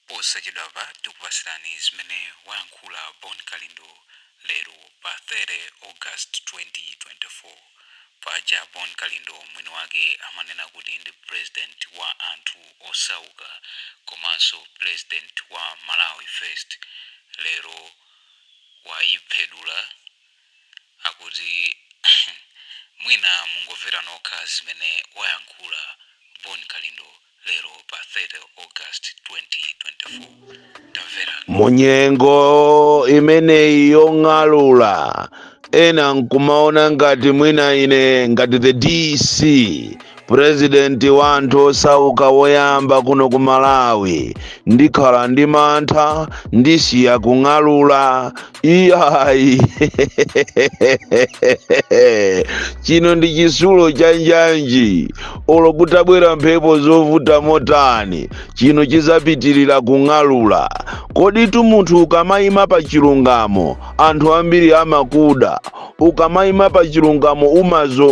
Posachedwapa tikupatsirani zimene wayankhula Bon Kalindo lero pa 30 August 2024. Paja Bon Kalindo mwini wake amanena kuti ndi president wa anthu osauka komanso president wa Malawi first lero wayiphedula akuti mwina mungomvera nokha zimene wayankhula Bon Kalindo. lero pa 30 august 2024 tamvera munyengo imeneyi yong'alula ena nkumaona ngati mwina ine ngati the dc purezidenti wa anthu osauka woyamba kuno ku malawi ndikhala ndi mantha ndisiya kung'alula iyayi chino ndi chisulo cha njanji olo kutabwera mphepo zovuta motani chino chizapitirira kung'alula koditu munthu ukamayima pa chilungamo anthu ambiri amakuda ukamayima pa chilungamo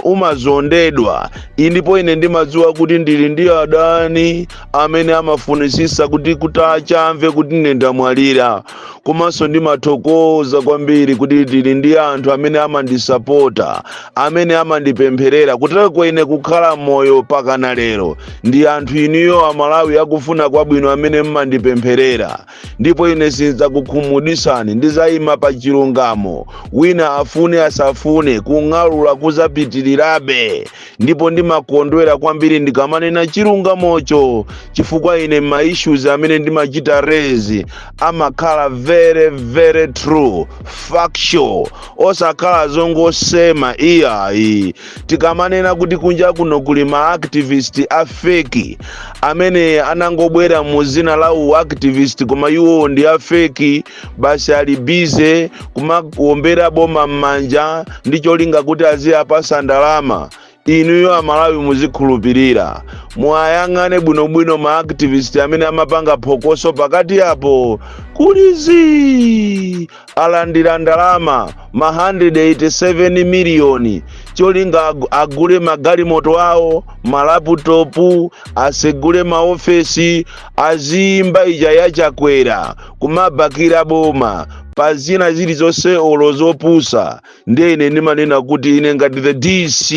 umazondedwa indipo ine ndimadziwa kuti ndili ndi adani amene amafunisisa kuti atadzamva kuti ine ndamwalira komanso ndimathokoza kwambiri kuti ndili ndi anthu amene amandisapota amene amandipempherera kutereko ine kukhala moyo pakana lero ndi anthu inuyo amalawi akufuna kwabwino amene mmandipempherera ndipo ine sindzakukhumudwitsani ndizayima pa chilungamo wina afune asafune kung'alula kuzapitirirabe ndipo ndimakondwera kwambiri ndikamanena chilungamocho chifukwa ine ma issues amene ndimachita raise amakhala very true factual osakhala zongosema iyayi tikamanena kuti kunja kuno kuli ma activist a feki amene anangobwera mu zina la u activist koma iwo ndi a feki basi ali bize kumawombera boma m'manja ndi cholinga kuti aziyapasa ndalama inuyo amalawi muzikhulupirira muwayang'ane bwinobwino ma activist amene amapanga phokoso pakati apo kuli zii alandira ndalama ma 187 miliyoni cholinga agule magalimoto awo malaputopu asegule maofesi aziyimba ija yachakwera kumabakira boma pa zina zilizonse olo zopusa ndiye ine ndimanena kuti ine ngati the dc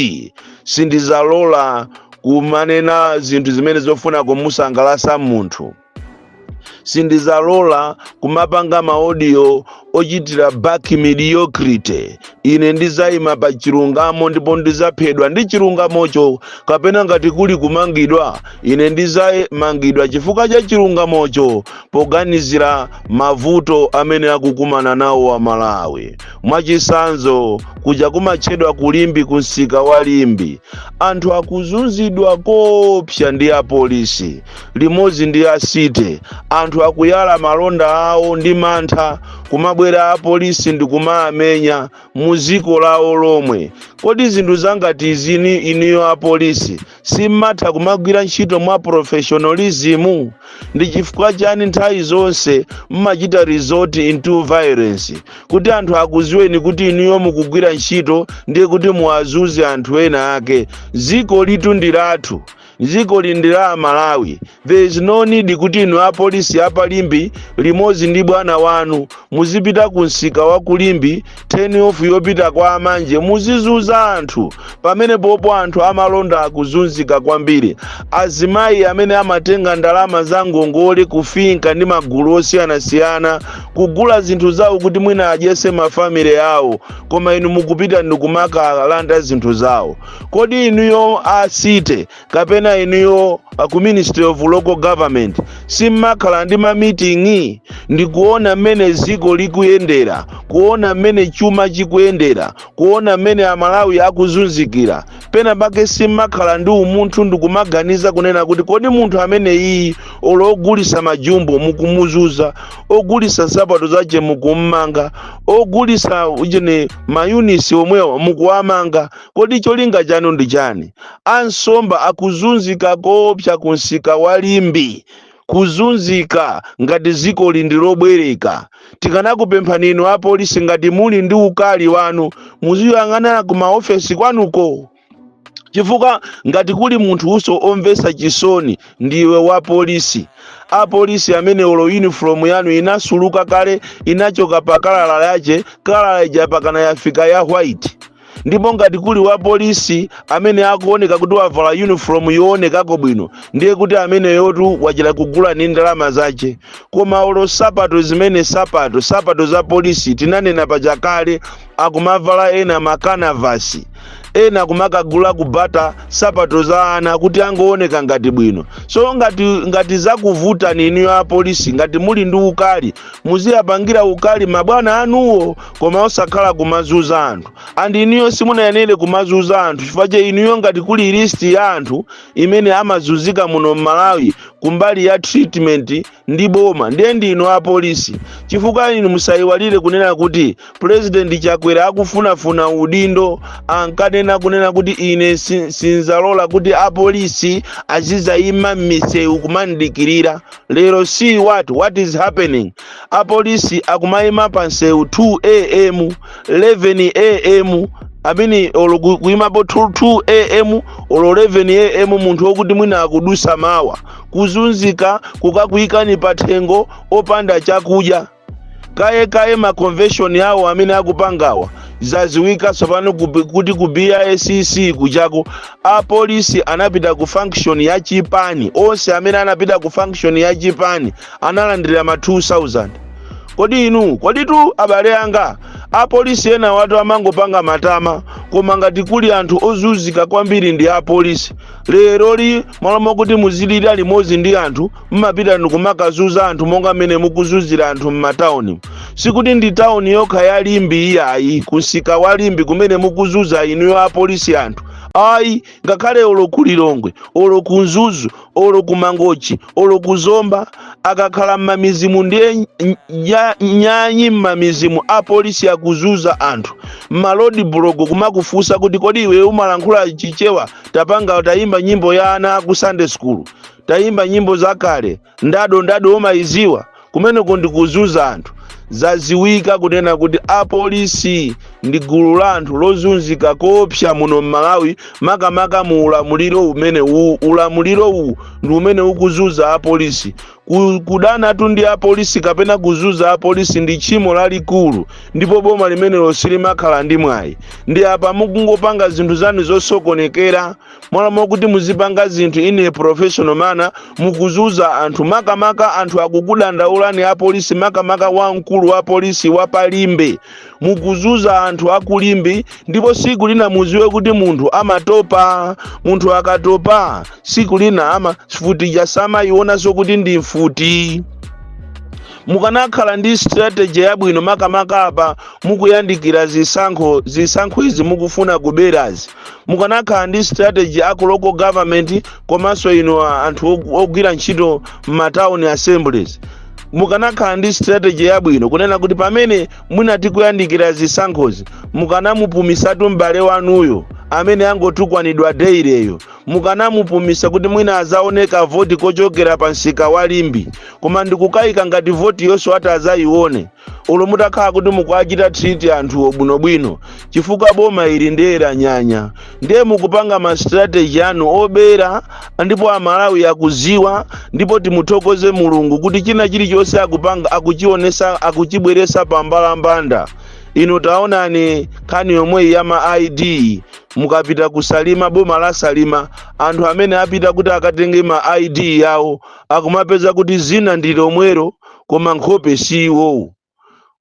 sindizalola kumanena zinthu zimene zikufuna kumusangalasa munthu sindizalola kumapanga maodiyo ochitira back mediocrity ine ndizayima pa chilungamo ndipo ndizaphedwa ndi chilungamocho kapena ngati kuli kumangidwa ine ndizamangidwa chifukwa cha chilungamocho poganizira mavuto amene akukumana nawo aMalawi. Mwachitsanzo, kuja kumatchedwa ku Limbe ku msika wa Limbe, anthu akuzunzidwa koopsa ndi apolisi limodzi ndi a city. Anthu akuyala malonda awo ndi mantha, kumabwera apolisi ndi kumaamenya mu dziko lawo lomwe. Kodi zinthu zangati izizi inuyo apolisi simmatha kumagwira ntchito mwa professionalism ndi chifukwa chani nthawi zonse mmachita resort into violence kuti anthu akuziweni kuti inuyo mukugwira ntchito ndiye kuti muwazunze anthu ena ake dzikolitu ndi lathu dzikoli ndi la amalawi There is no need kuti inu apolisi a pa Limbe limodzi ndi bwana wanu muzipita ku msika wa ku Limbe turn off yopita kwa amanje muzizunza anthu pamene pompo anthu amalonda akuzunzika kwambiri azimayi amene amatenga ndalama za ngongole ku FINCA ndi magulu osiyanasiyana kugula zinthu zawo kuti mwina adyese mafamily awo koma inu mukupita ndikumakalanda zinthu zawo kodi inuyo a city kapena inuyo a ku ministry of local government simmakhala ndi mamiting'i ndi kuona mmene dziko likuyendera kuona mmene chuma chikuyendera kuona mmene amalawi akuzunzikira pena pake simmakhala ndi umunthu ndi kumaganiza kunena kuti kodi munthu ameneyi olo ogulisa majumbo mukumuzunza ogulisa nsapato zache mukummanga ogulisa ujeni mayunitsi omwewa mukuwamanga Kodi cholinga chanu ndi chani? Ansomba akuzunzika koopsa ku msika wa Limbe. Kuzunzika ngati dzikoli ndi lobwereka. Tikanakupemphani inu apolisi ngati muli ndi ukali wanu muziyang'anana ku maofesi kwanuko. Chifukwa ngati kuli munthunso omvetsa chisoni ndiwe wa polisi. A polisi amene olo uniform yanu inasuluka kale inachoka pa kalala yache, kalala ija pakana yafika ya white. ndipo ngati kuli wapolisi amene akuoneka kuti wavala uniform yoonekako bwino ndiye kuti ameneyotu wachita kugula ni ndalama zace koma olo sapato zimene sapato sapato za polisi tinanena pachakale akumavala ena makanavasi ena kumakagula kubata sapato za ana kuti angooneka ngati bwino so ngati ngati zakuvutani inu apolisi ngati muli ndi ukali muziyapangira ukali mabwana anuwo koma osakhala kumazuza anthu and inuyo simunayenere kumazuza anthu chifukwa cha inuyo ngati kuli list ya anthu imene amazunzika muno mmalawi kumbali ya treatment ndi boma ndiye ndi inu apolisi chifukwa inu musayiwalire kunena kuti president chakwera akufunafuna udindo ankanena kunena kuti ine si- sinzalola kuti apolisi azizayima m'misewu kumandikirira lero see what what is happening apolisi akumayima pa msewu 2 am 11 am amene olo ku- kuyimapo 2 am olo 11 am munthu wokuti mwina akudusa mawa kuzunzika kukakuyikani pa thengo opanda chakudya kaye kaye ma convention awo amene akupangawa zaziwika tsopano kubi- kuti ku BICC kujako apolisi anapita ku function ya chipani onse amene anapita ku function ya chipani analandira ma 2000 kodi inu koditu abale anga apolisi enawatu amangopanga matama koma ngati kuli anthu ozunzika kwambiri ndi apolisi leroli malo mokuti muzilira limodzi ndi anthu mmapita ndikumakazuza anthu monga mmene mukuzuzira anthu m'matauni sikuti ndi tauni yokha ya limbe iyayi kumsika wa limbe kumene mukuzuza inuyo apolisi anthu ayi ngakhale olo ku lilongwe olo ku mzuzu olo ku mangochi olo ku zomba akakhala m'mamizimu ndiye ny- nya- nyanyi m'mamizimu apolisi akuzuza anthu m'ma roadblock kumakufunsa kuti kodi iwe umalankhula chichewa tapanga tayimba nyimbo ya ana aku sunday school tayimba nyimbo zakale ndado ndado umayidziwa kumeneko ndi kuzunza anthu zaziwika kunena kuti apolisi ndi gulu la anthu lozunzika koopsa muno m'malawi makamaka mu ulamuliro umene uwu ulamuliro uwu ndi umene ukuzunza apolisi Ku- kudanatu ndi apolisi kapena kuzunza apolisi ndi tchimo lalikulu ndipo boma limenelo silimakhala ndi mwayi ndiye apa mukungopanga zinthu zanu zosokonekera m'malo mokuti muzipanga zinthu in a professional manner mukuzuza anthu makamaka anthu akukudandaulani apolisi makamaka wamkulu wa polisi wa palimbe mukuzuza anthu akulimbe ndipo siku lina muziwe kuti munthu amatopa munthu akatopa siku lina ama mfuti ija samaionanso kuti ndi mfuti mukanakhala ndi strategy yabwino makamaka apa mukuyandikira zisankho zisankho izi mukufuna kuberazi mukanakhala ndi strategy aku local government komanso inu a- anthu og- ogwira ntchito m'matown assemblies mukanakhala ndi strategy yabwino kunena kuti pamene mwina tikuyandikira zisankhozi mukanamupumisatu m'bale wanuyo amene angotukwanidwa daily-yo mukanamupumisa kuti mwina azaoneko voti kochokera pa msika wa limbe koma ndikukayika ngati voti yonse ati azayione olo mutakhala kuti mukuachita treat anthuwo bwinobwino chifukwa boma ili ndiye lanyanya ndiye mukupanga ma strategy anu obera ndipo amalawi akuziwa ndipo timuthokoze mulungu kuti china chilichonse akupanga akuchionesa akuchibweresa pa mbalambanda inu taonani nkhani yomweyi ya ma id mukapita kusalima boma la salima anthu amene apita kuti akatenge ma id awo akumapeza kuti zina ndi lomwero koma nkhope si iwowo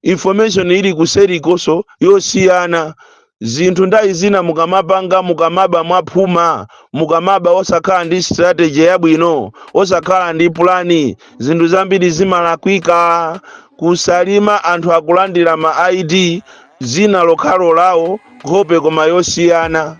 information ili kuserikoso yosiyana zinthu ndale izi zina mukamapanga mukamaba mwaphuma mukamaba osakhala ndi strategy yabwino osakhala ndi pulani zinthu zambiri zimalakwika kusalima anthu akulandira ma id dzina lokhalo lawo nkhope koma yosiyana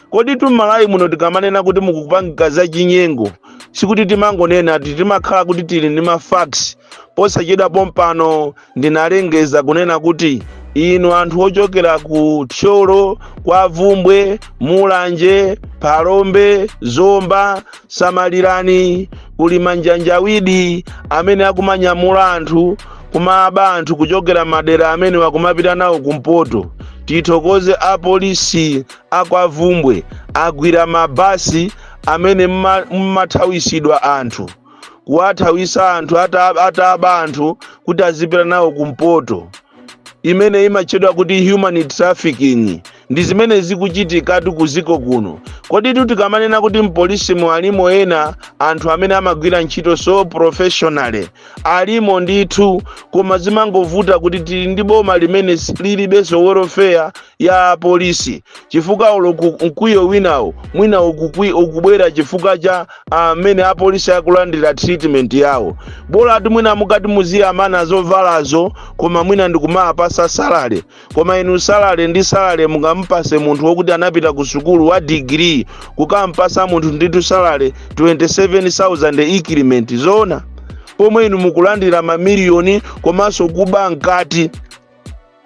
kodi itu m'malawi muno tikamanena kuti mukupanga za chinyengo sikuti timangonena ayi timakhala kuti tili ndi mafacts posachedwa pompano ndinalengeza kunena kuti inu anthu ochokera ku thyolo kwa bvumbwe mulanje phalombe zomba Samalirani, kuli manjanjawidi amene akumanyamula anthu kumaba anthu kuchokera madera amenewa kumapita nawo kumpoto. Tithokoze apolisi akwa Bvumbwe agwira mabasi amene mma- mmathawisidwa anthu kuwathawisa anthu ata- ataba anthu kuti azipita nawo kumpoto. imene imatchedwa kuti human trafficking ndi zimene zikuchitikatu ku dziko kuno koditu tikamanena kuti m'polisimu alimo ena anthu amene amagwira ntchito so professionally alimo ndithu koma zimangovuta kuti tili ndi boma limene si- lilibenso welfare ya apolisi chifukwa olo ku- mkwiyo winawo mwina ukukwi- ukubwera chifukwa cha amene apolisi akulandira treatment yawo bolatu mwina mukati muziwamana zovalazo koma mwina ndikumawapasa salale koma inu salale ndi salale mungamupase munthu wokuti anapita ku sukulu wa digiri kukampasa munthu nditu salale 27000 increment zoona pomwe inu mukulandira mamiliyoni komanso kuba mkati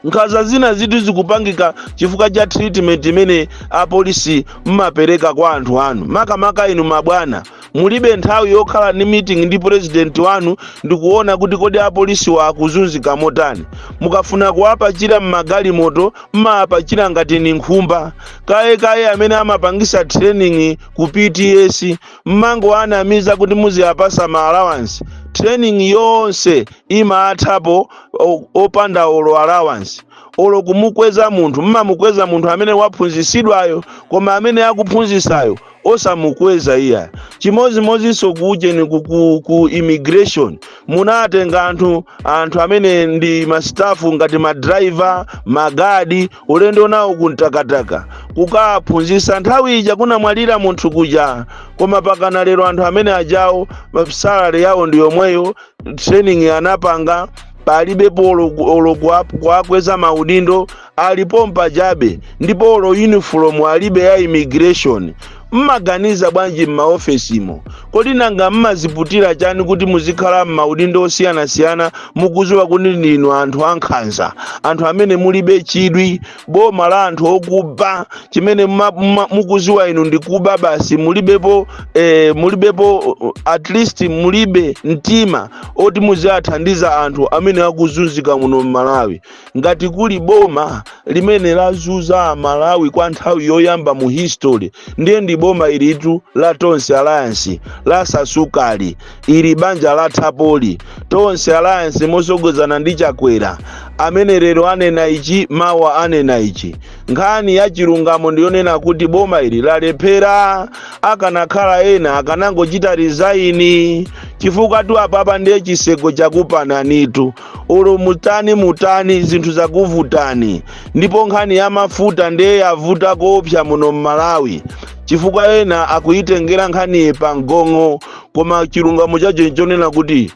nkhaza zina izitu zikupangika chifukwa cha treatment imene apolisi mmapereka kwa anthu anu makamaka inu mabwana mulibe nthawi yokhala ndi meeting ndi president wanu ndikuona kuti kodi apolisiwa akuzunzika motani mukafuna kuwapachira mmagalimoto mmawapachila ngati ni nkhumba kaye kaye amene amapangisa training ku pts mmangowanamiza kuti muziwapasa ma allowance training yonse imathapo o- opanda olo allowance olo kumukweza munthu mmamukweza munthu amene waphunzisidwayo koma amene akuphunzisayo osamukweza iya chimozimozinso kuujeni ku, ku, ku immigration munatenga anthu anthu amene ndi masitafu ngati madraiva magadi ulendo nawo ku Mtakataka kukaphunzisa nthawi ija kunamwalira munthu kuja koma pakana lero anthu amene ajawo salary yawo ndi yomweyo training anapanga palibepo olo- olo kuwa- kuwakweza maudindo ali pompajabe ndipo olo uniform alibe ya immigration mmaganiza bwanji m'maofesimo kodi nanga mmaziputira chani kuti muzikhala m'maudindo osiyanasiyana mukuziwa kuti ndinu anthu ankhanza anthu amene mulibe chidwi boma la anthu okuba chimene mma- mma- mukuziwa inu ndikuba basi mulibepo eh, mulibepo at least mulibe mtima oti muziwathandiza anthu amene akuzunzika muno mmalawi ngati kuli boma limene lazuza amalawi kwa nthawi yoyamba mu history ndiye ndi boma ilitu la tonse alliance latsala sukali Ili banja lathapoli, Tonse Alliance mosogozana ndi Chakwera amene lero anena ichi mawa anena ichi. Nkhani ya chilungamo ndiyonena kuti boma ili lalephera, akanakhala ena akanangochita resign chifukwatu apapa ndiye chitseko chakupananitu olo mutani mutani zinthu zakuvutani ndipo nkhani ya mafuta ndiye yavuta koopsa muno m'malawi chifukwa ena akuyitengera nkhaniyi pa mgong'o koma chilungamo chake nchonena kuti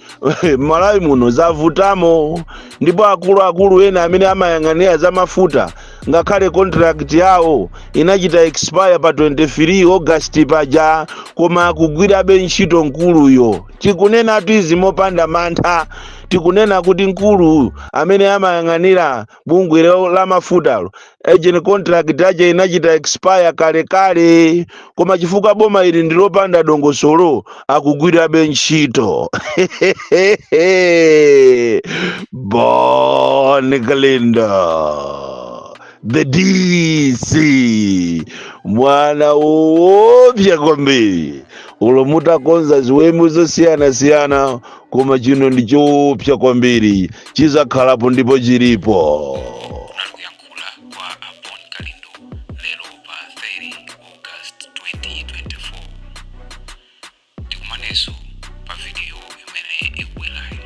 mmalawi muno zavutamo ndipo akuluakulu ena amene amayang'anira za mafuta ngakhale contract yawo inachita expire pa 23 august paja koma akugwirabe ntchito mkuluyo tikunenatu izi mopanda mantha tikunena kuti mkulu amene amayang'anira bungwe la- la mafutalo agent contract aja inachita expire kale kale koma chifukwa boma ili ndilopanda dongosolo akugwirabe ntchito bon kalindo the dc mwana woopsa kwambiri ulo mutakonza ziwembu zosiyanasiyana koma chino ndi choopsa kwambiri chizakhalapo ndipo chilipo akuyankhula kwa a bon kalindo lero pa 30 august 2024 tikumanenso pa vidiyo imene ikubwerayo